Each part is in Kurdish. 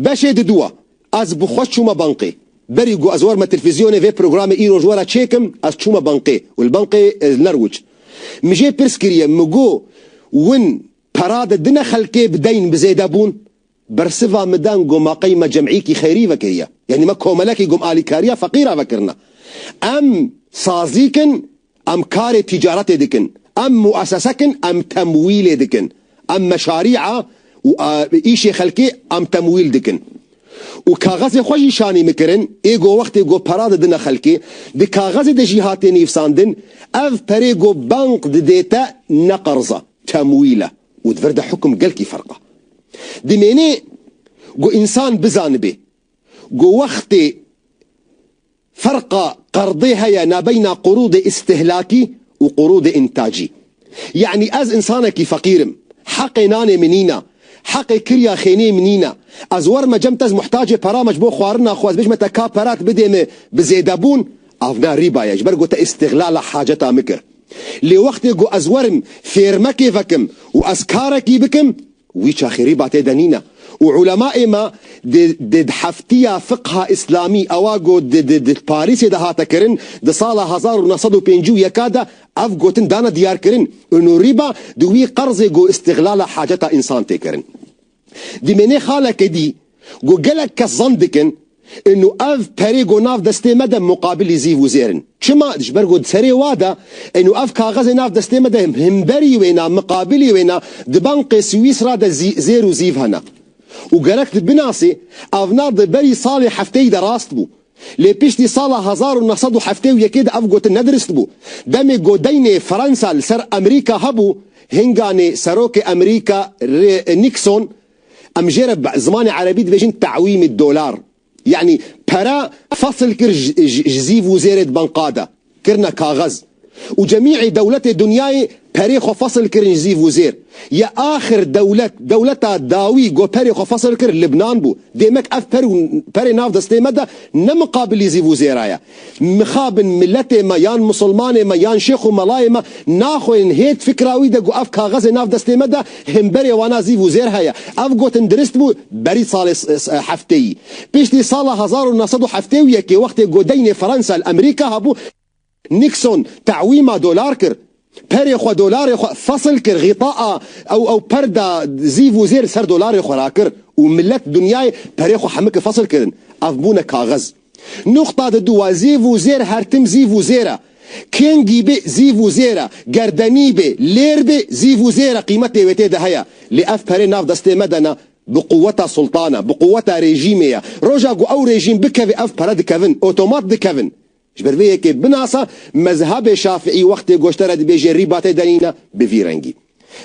Beşê diduwa ez bi xwe çûme banqê. Berî ku ez warme telfîzyonê vê programê îro ji we re çêkim ez çûme banqê û li banqê li ner wuç. Min jê pirs kiriye min got win pera de dine xelkê bi deyn bi zêde bûn? Bersiva min dan got ma qey me cemîyekî xeyrî vekiriye. Yanî me komelekî gom alîkariya feqîra vekirine. Em sazîk in Em karê tîcaretê dikin. Em muessesak in em temwîlê dikin. Em meşarî'a û îşê xelkê em temwîl dikin. Û kaxezê xwe jî şanî mikirin, ê go wextê go pera didine xelkê, di kaxezê de jî hatê nîvsandin, ev perê go bank didê te ne qerza, temwîl e û di vir de hukm gelkî ferq e. Dimênê go însan bizanibê go wextê. Ferqa qerdê heye nabeyna qurûdê îstihlakî û qurûdê întacî. Yanî ez însanekî feqîr im, heqê nanê min nîn a, heqê kirya xêniyê min nîn a. Ez werime cem te ez muhtacê pera me ji bo xwarina xwe ez bêjime te ka pera tu bidê min bi zêdebûn, av ne rîba ye ji ber ku te îstihlala haceta min kir. Lê wextê ku ez werim fêrmekê vekim û ez karekî bikim, Wî çaxêrî batê de nîne û ulemaê me di di di heftiya fiqha îslamî ewa ku di di di Parîsê de hate kirin di sala hezar û neh sed û pêncî û yeka de ev gotin dane diyarkirin û rîba di wî qerzê ku îstîglala haceta însan tê kirin dimênê xalekê dî Go gelek kes zan dikin inu ev perê go nav destê me de muqabilî zîv û zêr in. Çima? Ji ber go serê wa de inu ev kaxezê nav destê me de himberî wêna, miqabilî wêna di bankê Swîsra de zî zêr û zîv hene. Û gerek tu binasî ev na di berî salê hefteyî de rast bû. Lê piştî sala hezar û neh sed û heftê û yekê de ev gotin ne dirist bû. Demê go deynê Fransa li ser Emerîka hebû, hinganê Serokê Emerîka Nikson, Em jê re bi zimanê erebî dibêjin te'wîm ê dolar. Yanî pere fesil kir ji zîv û zêrê di banka de, kirine kaxez. Û cemî'ê dewletê dinyayê perê xwe fesil kirin ji zîv û zêr. Ya axir dewlet, dewleta dawî ku perê xwe fesil kir Libnan bû. Dêmek ev per û perê nav destê me de ne miqabilî zîv û zêra ye. Mixabin miletê me yan misilmanê me yan şêx û melayê me naxwînin hêt fikra wî de ku ev kaxezê nav destê me de himberê wana zîv û zêr heye. Ev gotin dirist bû berî salê hefteyî. Piştî sala hezar û neh sed û heftê û yekê wextê godeynê Fransa li Emerîka hebû, Nixon te'wîma dolar kir Perê xwe dolarê xwe fesil kir xîta a ew ew per da zîv û zêr ser dolarê xwe ra kir û milet dinyayê perê xwe hemikê fesil kirin ev bûne kaxez. Nuqta di du a zîv û zêr her tim zîv û zêr e. Kêngî bê zîv û zêr e, gerdenî bê, lêr bê zîv û zêr e qîmetê wê tê de heye. Lê ev perê nav destê me de ne bi quweta sultan e bi quweta rejîmê ye. Roja ku ew rejîm bikevê ev pere dikevin, otomat dikevin. Ji ber vê yekê binasa mezhebê Şafiî wextê goştere dibêje rî batê denîna bi vî rengî.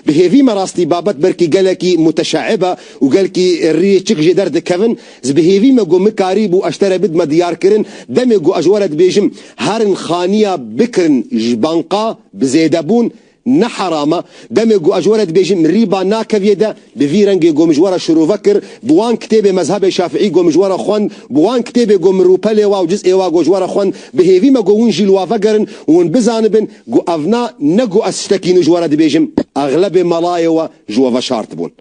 Bi hêvî me rastî babet belkî gelekî muteşeib e û gelkî rîyê çik jê der dikevin, ji bi hêvî me ku min karî bû eştere bidme diyarkirin, demê ku ez ji we re dibêjim herin xaniya bikirin ji banka bi zêdebûn Ne heram e. Demê ku ez were dibêjim mirî ba nakeviye de bi vî rengê ku min ji we re şirove kir, bi wan kitêbê mezhebê şafiî ku min ji we re xwend, bi wan kitêbê ku min rûpe lê wa û ciz ê wa ku ji we re xwend, bihêvî me ku win jî li wa vegerin û hûn bizanibin ku ev na ne ku ez tiştekî nû ji we re dibêjim, exlebê melayê we ji we veşartibûn.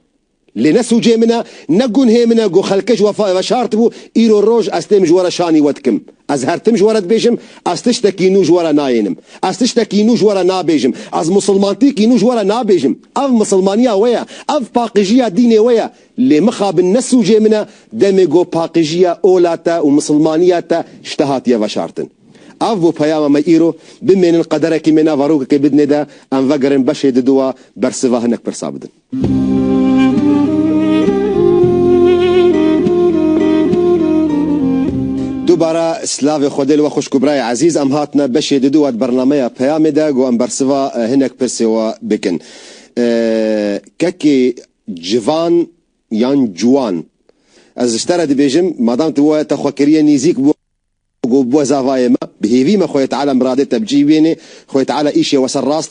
Lê ne sûcê min e, ne gunhê min e ku xelkê ji wefayê ve şartibû, îro roj ez têm ji we re şanî we dikim. Ez her tim ji we re dibêjim, ez tiştekî nû ji we re nayênim. Ez tiştekî nû ji we re nabêjim. Ez misilmantîkî nû ji we re nabêjim. Ev misilmaniya we ye. Ev paqijîya dînê we ye. Lê mixabin ne sûcê min e, demê ku paqijîya ola te û misilmaniya te ji te hatiye veşartin. Ev bû peyama me îro. Bimênin qederekî me nava rokekê bidinê de, em vegerin beşê diduwa bersiva hinek pirsa bidin. Dubara slavê Xwedê li we xwişk û birayê ezîz em hatine beşê di dû we di bernameya peyamê de got em bersiva hinek pirsê we bikin kekê civan yan ciwan ez ji te re dibêjim madam tu we te xwe kiriye nîzîk bi got bi we zavayê me bi hêvî me xweyê teala miradê te bi cî bênê xweyê teala îşê we ser rast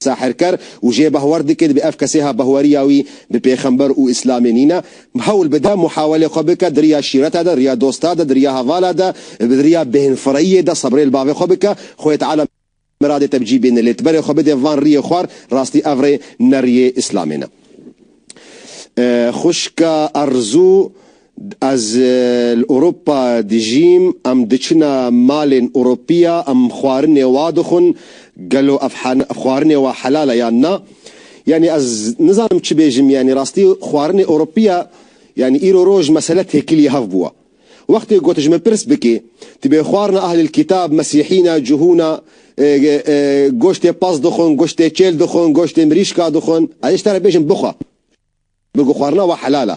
Sahirker û jê behwer dike dibe ev kesêha behweriya wî bi pêxember û îslamê nîne, hewl bide muhawelê xwe bike di riya şîreta de, riya dosta de, di riya hevala de, di riya bêhnfireyiyê de sebrê li bavê xwe bike, xwê teala miradê te bi cî bêne lê tiberê xwe bidê van riyê xwar, rastî ev rê ne riyê îslamê ne. Xwişka Erzû. Ez li Ewropa dijîm, em diçine malên Ewropiya, em xwarinê wa dixwin, gelo ev xwarinê wa helal e yan na? Yanî ez nizanim çi bêjim, yanî rastî xwarinê Ewropiya yanî îro roj mesele têkilî hev bûye. Wextê ku tu ji min pirs bikî, tu bê xwarina ehlil kîtab, mesîhî ne, cuhû ne, goştê pez dixwin, goştê çêl dixwin, goştê mirîşka dixwin, ez ê ji te re bêjim bixwe. Bêgo xwarina we helal e.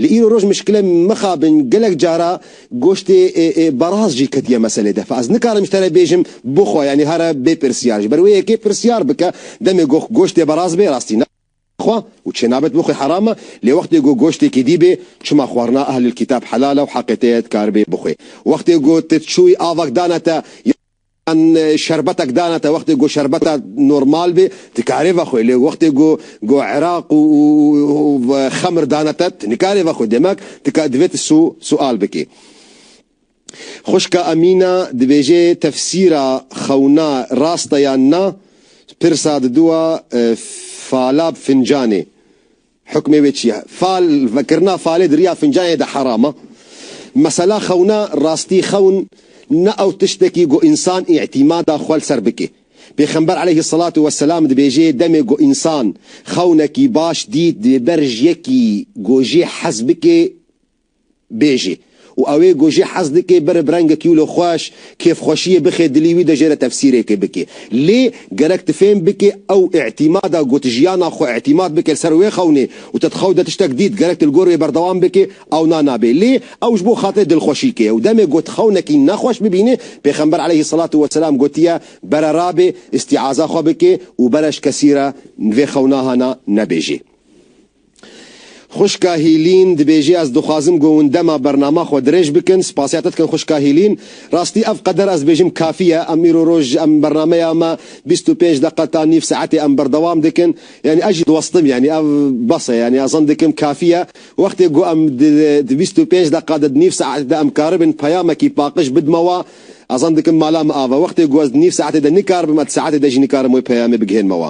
Li îro roj mişkile mixabin gelek cara goştê baraz jî ketiye meselê de. Fe ez nikarim ji te re bêjim bixwe yanî here bê pirsyar. Ji ber wê yekê pirsyar bike demê go goştê baraz bê rastî ne xwe û çê nabet bo xwe heram e lê wextê go goştêkî dî bê çima xwarina ehlil kîtab helal e û heqê te ye dikar bê bixwê. Wextê go tu çûyî avak dane te ya An şerbetek dane te wextê ku şerbeta normal bê tu dikarê vexwê lê wextê ku ku iraq û xemir dane te tu nikarê vexwê demek tu divê tu sual bikî. Xwişka Emîna dibêjê tefsîra xewna rast e yan na pirsa diduwa falab fincanê Hukmê wê çi ye? Fal vekirina falê di riya fincanê de heram e. Mesela xewna rastî xewn ne ew tiştekî ku însan îtîmada xwe li ser bike. Pêxember eleyhî selatû weselam dibêje demê ku însan xewnekî baş dît divê ber ji yekî ku jê hez bike bêjî û ew ê ku jî hez dike bere bi rengekî wilo xweş, kêfxweşiyê bixe dilî wî de jê re tefsîrêkê bike. Lê gerek tu fêm bike ew îtîmada ku tu jiyana xwe îtîmat bike li ser wê xewnê û te di xew de tiştek dît gerek tu li gor wê berdewam bike ewna nabe. Lê ew ji bo xatirê dilxweşîkê ye û demê ku tu xewnekî nexweş bibînî Pêxember aleyhî selatu weselam gotiye, bere rabe îstîaza xwe bike û bere ji kesî re vê xewna hana nebêjî. Xwişka Hîlîn dibêje, Ez dixwazim ku hûn dema bernama xwe dirêj bikin. Spasiya te dikim xwişka Hîlîn. Rastî ev qeder ez dibêjim kafî ye. Em îro roj ji em bernameya me bîst û pênc deqa ta nîv saetê em berdewam dikin. Yanî ez jî diwestim yanî ev bes e. Yanî ez zan dikim kafî ye. Wextê ku em di bîst û pênc deqa de di nîv saetê de em karibin peyamekî paqij bidime we ez zan dikim mala me ava. Wextê ku ez di nîv saetê de nikaribim ez di saetê de jî nikarim wê peyamê bigihênime we.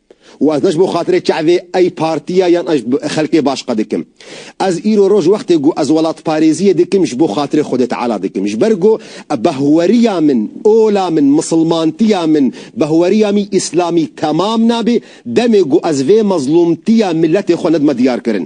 Û ez ne ji bo xatirê ç'evê ey partiya yan ez xelkê baş qe dikim. Ez îro roj wextê ku ez welatparêziyê dikim ji bo xatirê Xwedê Teala dikim. Ji ber ku behweriya min, ola min, misilmantiya min, behweriya mî îslamî temam nabê demê ku ez vê mezlûmtiya miletê xwe nedime diyarkirin.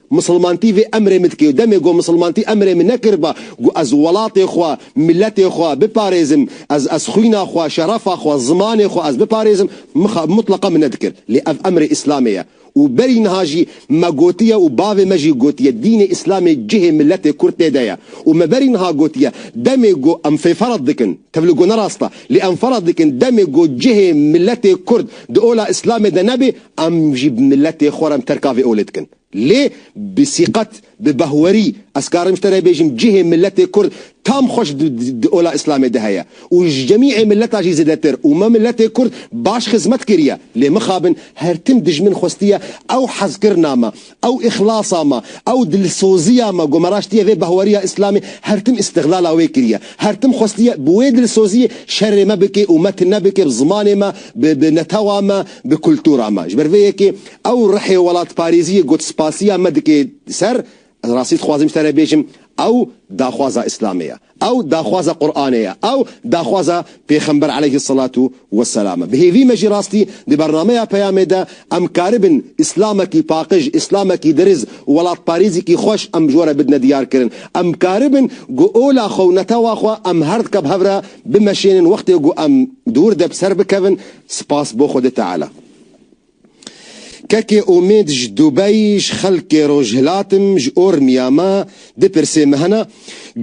Misilmantî vê emrê min dike. Demê ku misilmantî emrê min nekiriba ku ez welatê xwe, miletê xwe biparêzim, ez ez xwîna xwe, şerefa xwe, zimanê xwe ez biparêzim, mixa mutleqa min nedikir. Lê ev emrê Îslamê ye. Û berî niha jî me gotiye û bavê me jî gotiye dînê Îslamê cihê miletê Kurd tê de ye. Û me berî niha gotiye demê ku em fê ferz dikin, tevli ku ne rast e, lê em ferz dikin demê ku cihê miletê Kurd di ola Îslamê de nebê, Em jî bi miletê xwe re terka vê olê dikin. Lê bi sîqet, bi behwerî ez karim ji te re bêjim cihê miletê kurd tam xweş di ola îslamê de heye û ji cemîê miletan jî zêdetir û me miletê kurd baş xizmet kiriye. Lê mixabin her tim dijmin xwestiye ew hezkirina me. Ew îxlasa me, ew dilsoziya me ku me raştiye vê behweriya îslamê her tim îstiglala wê kiriye. Her tim xwestiye bi wê dilsoziyê şerê me bike û me tune bike bi zimanê me, bi bi netewa me, bi kultura me. Ji ber vê yekê ew rihê welatparêziyê gotspasiya me dike ser, ez rastî dixwazim ji te re bêjim, Ew daxwaza Îslamê ye. Ew daxwaza Quranê ye. Ew daxwaza Pêxember eleyhi selatû we selam e. Bi hêvî me jî rastî di bernameya Peyamê de em karibin Îslamekî paqij, Îslamekî diriz û welatparêzîkî xweş em ji we re bidine diyarkirin. Em karibin ku ola xwe û netewa xwe em herdike bi hev re bimeşênin wextê ku em di wir de bi ser bikevin. Spas bo Xwedê Teala. Kekê Umêd ji Dubeyî ji xelkê Rojhilatim ji Ormiya me di pirsê me hene,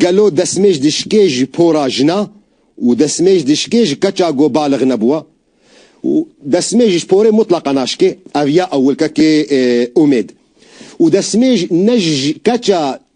gelo desmêj dişikê ji pora jina û desmêj dişikê ji keça ku balig nebûwe û desmêj ji porê mutleqa naşikê? Ev ya ewil kekê Umêd. Û desmêj ne ji keça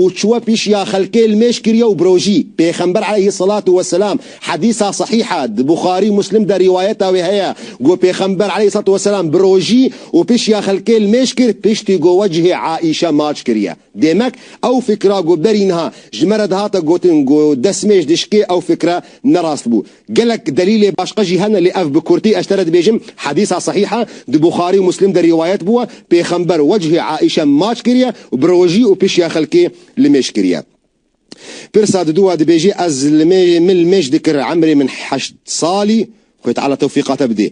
û çûwe pîşiya xelkê li mêj kiriye û birojî. Pêxember eleyhî selatû we selam, hedîsa sehîh e, di Buxarî û Muslim de rîwayeta wê heye, got, Pêxember eleyhî selatû we selam birojî û pîşiya xelkê li mêj kir, piştî got we cihê Aîşe maç kiriye. Demek ew fikra got berî niha ji me re dihate gotin got destmêj dişikê ew fikre ne rast bû. Gelek delîlê başka jî hene lê ev bi kurtî ez te re dibêjim, hedîsa sehîh e, di Buxarî û Muslim de rîwayet bûye, pêxember wecihê Aîşe maç kiriye û bi rojî û pişiya xelkê li mêj kiriye. Pirsa didu wa dibêjî ez li mêj min li mêj dikir emrê min heşt salî, Xwê Teala tewfîqa te bidê.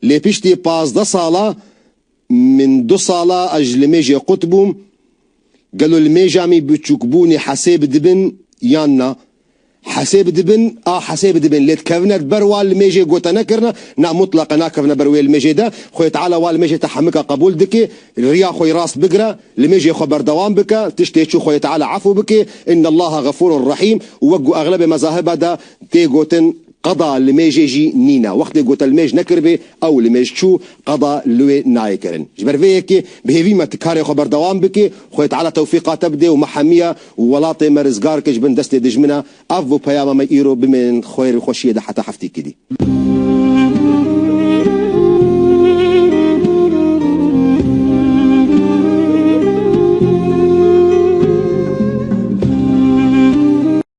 Lê piştî pazdeh sala, Min du sala a ji li mêjê qut bûm, gelo li mêja mî biçûkbûnê hesêb dibin yan na? Hesêb dibin, a hesêb dibin, lê dikevine ber wa li mêjê gote nekirine, na mutleqe nakevine ber wê li mêjê de, Xwedê Teala wa li mêjê te hemika qebûl dike, riya xwe yê rast bigire, li mêjê xwe berdewam bike, tiştê çû Xwedê Teala efû bike, Innallaha Xefûrun Rehîm û wek ku exlebê mezaheba de tê gotin, Qada li mêjê jî nîne. Wextê gote li mêj nekiribê, ew li mêj çû, qada li wê nayê kirin. Ji ber vê yekê bi hêvî me tu karê xwe berdewam bikê, Xwê Teala tewfîqa te bidê û me hemiya û welatê me rizgar ke ji bin destê dijmina. Ev bû peyama me îro, bimênin xwêr û xweşiyê de heta heftikî dî.